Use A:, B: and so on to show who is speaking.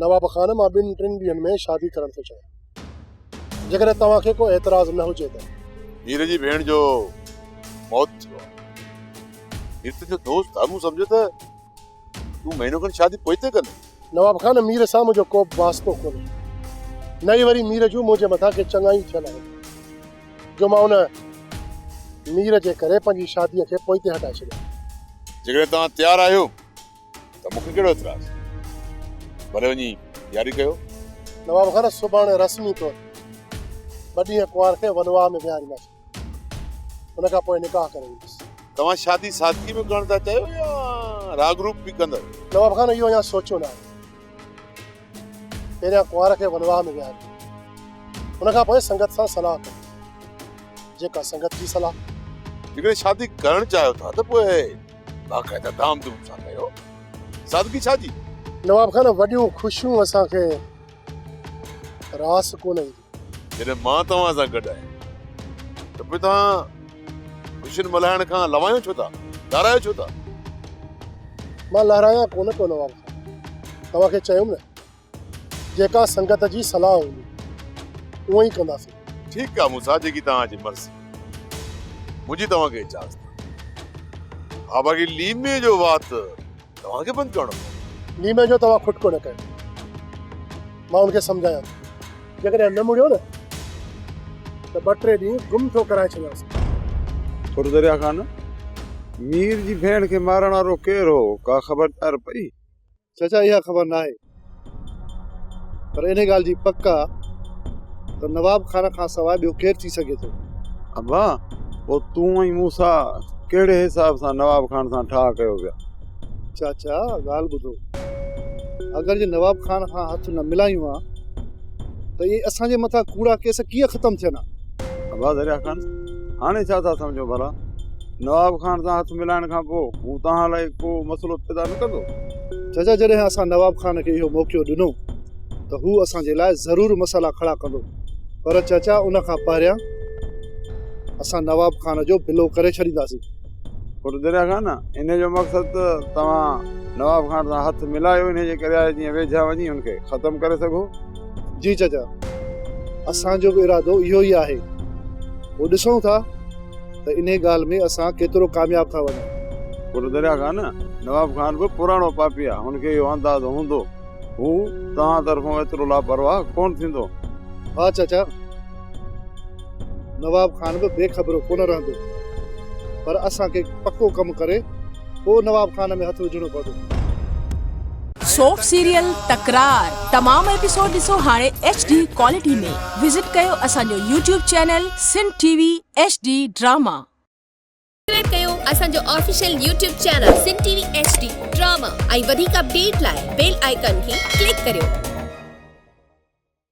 A: نواب خان مان ٻن ٽن ڏينهن ۾ شادي ڪرڻ ٿو چاهيان. جيڪڏهن توهان کي ڪو اعتراض نه هجي ته. مير جي ڀيڻ
B: جو موت ٿيو آهي. مير تنهنجو دوست آهي. مون سمجهيو ته تون مهينو کن شادي پوئتي ڪندين. نواب خان مير
A: سان منهنجو ڪوبه واسطو ڪونهي. نه ئي وري مير جون منهنجي مٿان ڪي چڱايون ٿيل آهن جو مان ان مير جي ڪري پنهنجي شاديء کي پوئتي هٽائي ڇڏيان. جيڪڏهن توهان
B: تيار آهيو ته مون کي ڪهڙو اعتراض. ڀلي وڃي ياري ڪيو. نواب خان
A: سڀاڻي رسمي طور ٻه ڏينهن ڪنوار کي ولواء ۾ ويهارينداسين. ان کان پوء نڪاح ڪري ويندس. توهان شادي
B: سادگي ۾ ڪرڻ ٿا چاهيو يا راڳ روپ به ڪندؤ؟ نواب خان اهو اڃا
A: سوچيو ناهي. پهريان ڪنوار کي ولواهه ۾ ويهاريو. ان کان پوء سنگت سان صلاح ڪريو. جيڪا سنگت جي صلاح. جيڪڏهن شادي
B: ڪرڻ چاهيو ٿا ته پوء باقاعده ڌام ڌوم سان ڪريو. سادگي ڇا جي؟ نواب خان وڏيون
A: خوشيون اسان کي راس ڪونه اينديون. جڏهن مان توهان
B: سان گڏ آهيان ته پوء توهان خوشين ملهائڻ کان لوايو ڇو ٿا؟ لهرايو ڇو ٿا؟
A: مان لهرايان ڪونه ٿو نواب خان، توهان کي چيم نه جيڪا سنگت جي صلاح هوندي اونئن ئي ڪنداسين. ٺيڪ آهي موسيٰ
B: جيڪي توهان جي مرضي، منهنجي توهان کي اجازت آهي. آباگي ليمي جو وات. توهان کي بند ڪرڻو پوندو. نيمه جو توهان کٽڪو نه
A: ڪيو. مان هن کي سمجهايان ٿو. جيڪڏهن نه مڙيو نه ته ٻه ٽي ڏينهن گم ٿو ڪرائي ڇڏيانس. ٿر درياء کان نه.
C: مير جي ڀيڻ کي مارڻ وارو ڪير هو ڪا خبردار پئي؟ چچا اها
D: خبر ناهي. پر انهيء ڳالهه جي پڪ آ ته نواب خان کان سواء ٻيو ڪير ٿي سگهي ٿو؟ ابا!
C: پوء تون ۽ موسيٰ ڪهڙي حساب سان نواب خان سان ٺاهه ڪيو پيا؟ چاچا
D: ڳالهه ٻڌو. اگر جي نواب خان کان هٿ نه ملايون ها ته اهي اسان جي مٿان ڪوڙا ڪيس ڪيئن ختم ٿين ها؟ ابا دريا
C: خان! هاڻي ڇا ٿا سمجهو ڀلا؟ نواب خان سان هٿ ملائڻ کان پوء هو توهان لاء ڪو مسئلو پيدا نه ڪندو؟ چچا جڏهن
D: اسان نواب خان کي اهو موقعو ڏنو ته هو اسان جي لاء ضرور مسئلا کڙا ڪندو پر چچا ان کان پهريان اسان نواب خان جو بلو ڪري ڇڏينداسين. پٽ دريا
C: خان انهيء جو مقصد ته توهان نواب خان سان هٿ ملايو انهيء جي ڪري آهي جيئن ويجها وڃي هن کي ختم ڪري سگهو. جي چچا
D: اسان جو به ارادو اهو ئي آهي پوء ڏسون ٿا. ته انهيء ڳالهه ۾ اسان ڪيترو ڪامياب ٿا وڃون. پر دريا
C: خان، نواب خان به پراڻو پاپي آهي، هن کي اهو اندازو هوندو. هو توهان طرفون ايترو لاپرواهه ڪونه ٿيندو. ها چاچا،
D: نواب خان به بي خبرو ڪونه رهندو، پر اسان کي پڪو ڪم ڪري پوء نواب خان ۾ هٿ وجهڻو پوندو.
E: سوپ سيريل تڪرار تمام ايپيسوڊ ڏسو هاڻي ايڇ ڊي ڪوالٽي ۾ وزٽ ڪيو اسان جو YouTube channel Sindh T V H D drama. Subscribe
F: ڪيو اسان جو official YouTube channel Sindh T V H D drama ۽ وڌيڪ اپڊيٽ لاء بيل آئيڪان کي ڪلڪ ڪريو.